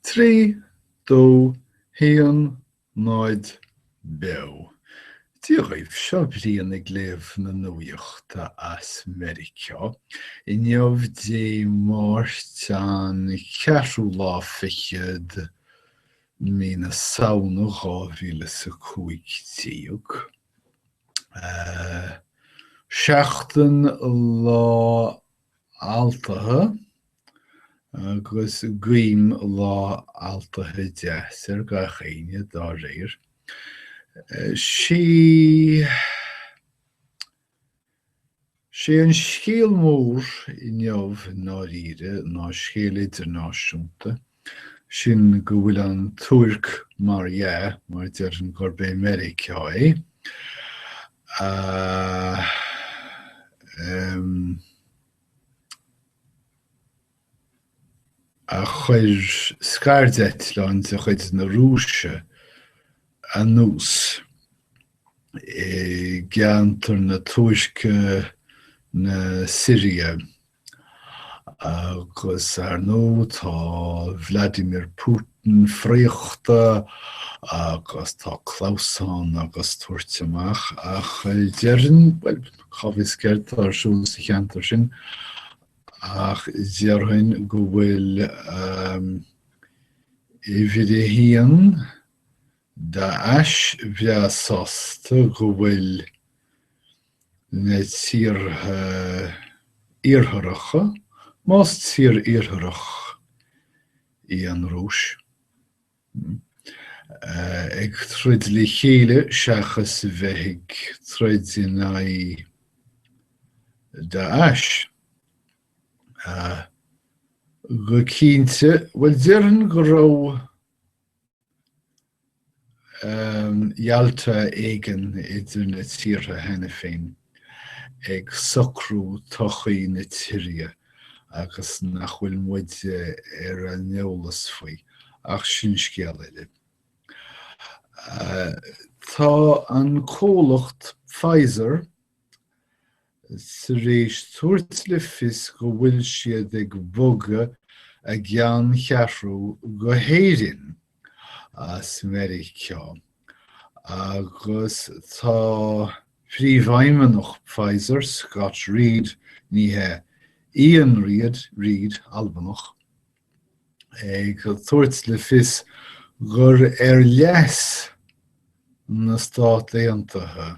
Trí, dó, haon, náid, beo. Dia dhaoibh, seo Brian ag léamh na nuaíochta as Meiriceá. Inniu Dé Máirt an ceathrú lá fichead mí na Samhna dhá mhíle is a cúig déag. Seachtain lá Altaithe, agus guím Lá Altaithe deas ar gach éinne dá réir. Sé an scéal mór inniu i ndáiríre ná scéal idirnáisiúnta. sin go bhfuil an Tuirc, mar dhea, mar déarfainn gurb é Meiriceá é, a chuir scairdeitleán de chuid na Rúise anuas i gceantar na Tuirce, na Siria. Agus ar ndóigh tá Vladimir Putin fíochta agus tá clamhsán agus tabhairt amach ach déarfainn, bhuel cá bhfios céard atá ar siúl sa cheantar sin ach déarfainn go bhfuil uimhir a haon Daesh breá sásta go bhfuil na tíortha Iartharacha, más tír Iartharach í an Rúis, ag troid le chéile seachas a bheith ag troid in aghaidh Daesh. Go cinnte, bhuel, déarfainn go raibh. Yalta éigin idir na tíortha cheana féin ag socrú todhchaí na tíre agus nach bhfuil muide ar an eolas faoi, ach sin scéal eile. Tá an comhlacht Pfizer, tar éis tabhairt le fios go bhfuil siad ag bogadh a gceanncheathrú go hÉirinn as Meiriceá agus tá Príomhfheidhmeannach Pfizer, Scott Read, ní hea, Ian Read, Read, Albanach, ag tabhairt le fios gur ar leas na Stát Aontaithe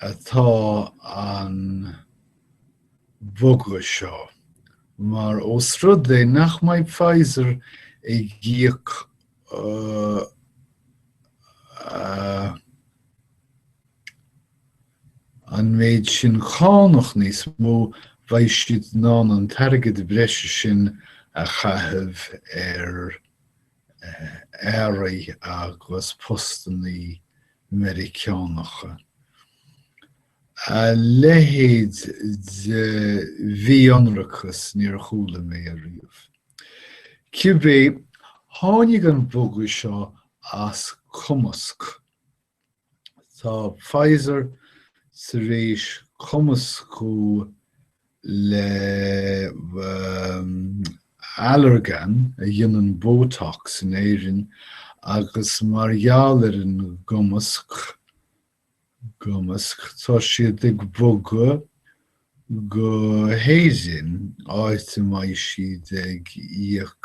atá an bogadh seo, mar ós rud é nach mbeidh Pfizer ag íoc an méid sin cánach níos mó, beidh siad in ann an t-airgead breise sin a chaitheamh ar earraí agus postannaí Meiriceánacha. A leithéid de mhí-ionracas níor chuala mé riamh. Cibé, tháinig an bogadh seo as cumasc. Tá Pfizer tar éis cumascú le Allergan, a dhéanann Botox in Éirinn, agus mar gheall ar an gcumasc, cumasc, tá siad ag bogadh go hÉirinn, áit a mbeidh siad ag íoc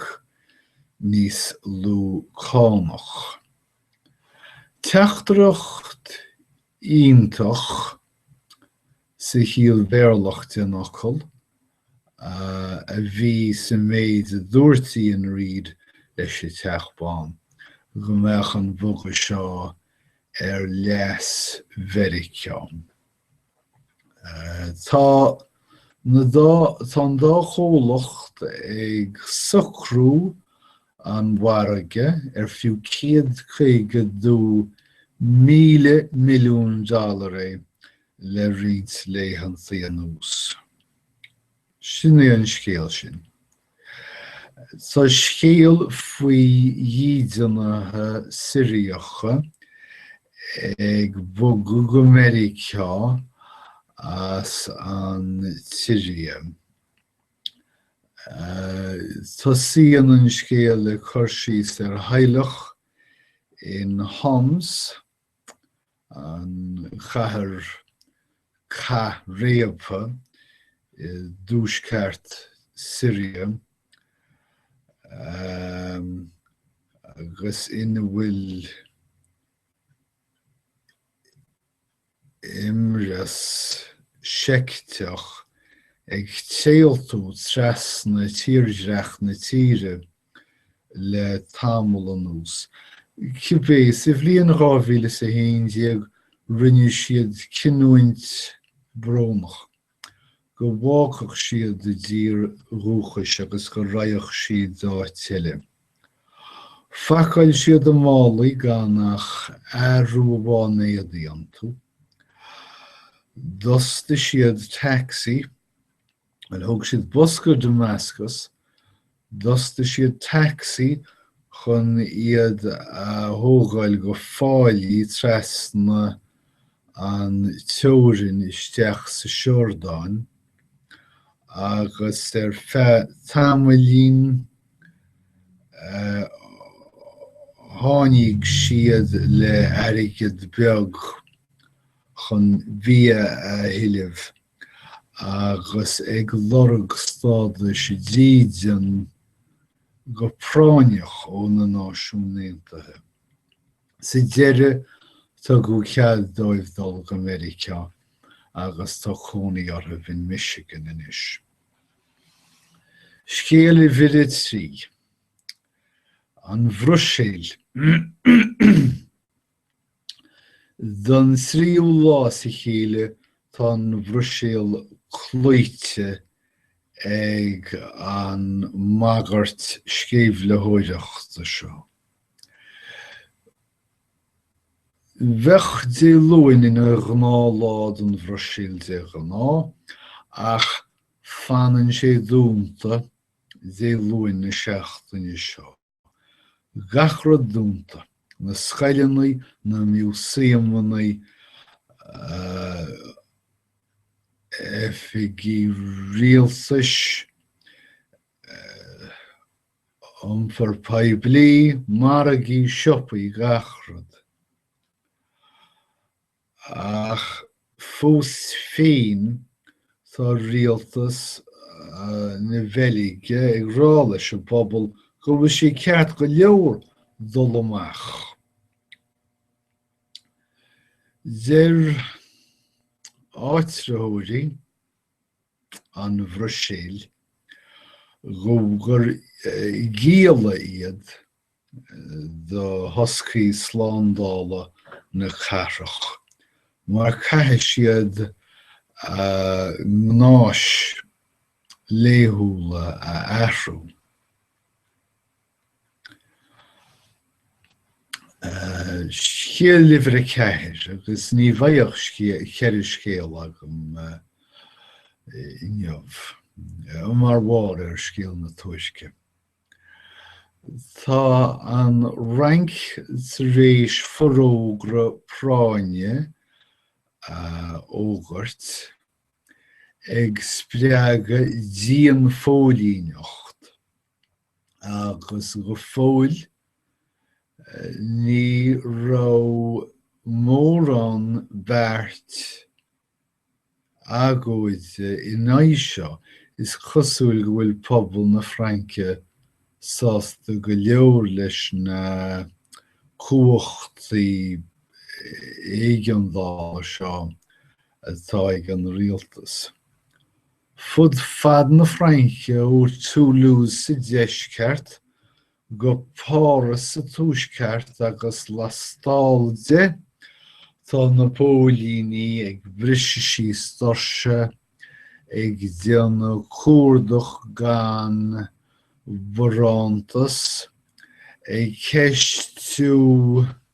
níos lú cánach. Teachtaireacht iontach, sa chiall Bhéarlach den fhocal, a bhí sa mhéid a dúirt Ian Reid leis an Teach Bán, go mbeadh an bogadh seo ar leas Mheiriceá. Tá an dá chomhlacht ag socrú an mhargaidh ar fiú 152 míle milliún dollar é le roinnt laethanta anuas. Sin é an scéal sin. Tá scéal faoi dhídeanaithe Siriacha ag bogadh go Meiriceá as an tSiria, tosaíonn an scéal le cur síos ar theaghlach in Homs, an chathair cathréabtha i dtuaisceart Syria agus ina bhfuil imreas seicteach ag téaltú trasna tírdhreach na tíre le tamall anuas. Cibé, sa bhliain 2011 rinne siad cinneadh brónach, go bhfágfadh siad a dtír dhúchais agus go raghadh siad go háit eile. Phacáil siad a málaí gan ach athrú amháin éadaí iontu. D'fhostaigh siad taxi. Bhuel, thóg siad bus go Damascus, d'fhostaigh siad taxi chun iad a thógáil go fáilí trasna an teorainn isteach sa Siordáin, agus ar feadh tamaillín tháinig siad le airgead beag chun bia a thuilleamh. agus ag lorg stádas dídine go práinneach ó na Náisiúin Aontaithe. Sa deireadh, tugadh cead dóibh dul go Meiriceá agus tá cónaí orthu in Michigan anois. Scéal uimhir a trí, An Bhruiséil. Don tríú lá as a chéile tá an Bhruiséil cloíte ag an mbagairt sceimhlitheoireachta seo. Bheadh Dé Luain ina ghnáthlá don Bhruiséil de ghnáth, ach fanann sé dúnta Dé Luain na seachtaine seo. Gach rud dúnta, na scoileanna, na miúsaemanna, oifigí rialtais, iompar poiblí, margaí, siopaí, gach rud. Ach fós féin, tá rialtas na Beilge ag rá leis an bpobal go bhfuil sé ceart go leor dul amach. Deir áitritheoirí an Bhruiséil gur gialla iad do thoscaí slándála na cathrach, mar caithfidh siad gnáis laethúla a athrú. Scéal uimhir a ceathair, agus ní bhíonn ceithre scéal agam inniu mar mhaithe le scéal na tuaisce. Tá an Fhrainc tar éis forógra práinne a fhógairt, ag spreagadh dianphóilíneacht, agus go fóill ní raibh mórán beart agóide in aghaidh seo, is cosúil go bhfuil pobal na Fraince sásta go leor leis na cumhachtaí éigeandála seo atá ag an rialtas. Fud fad na Fraince, ó Toulouse sa deisceart go Páras sa tuaisceart agus lastall de tá na póilíní ag briseadh síos doirse, ag déanamh cuardach gan bharántas, ag ceistiú.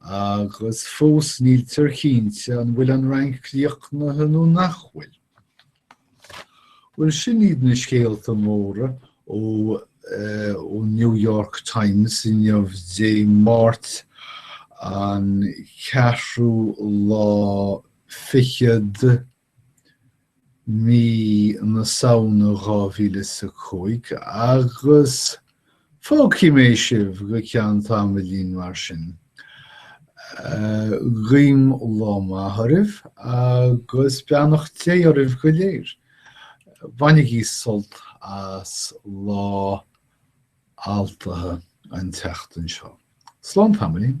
Agus fós níltear cinnte an bhfuil an Fhrainc críochnaithe nó nach bhfuil. Bhuel, sin iad na scéalta móra ón New York Times inniu Dé Máirt an 4ú lá fichead mí na Samhna 2015 agus fágfaidh mé sibh go ceann tamaillín mar sin. Guím lá maith oraibh agus beannacht Dé oraibh go léir. Bainigí sult as Lá Altaithe an tseachtain seo. Slán tamaillín.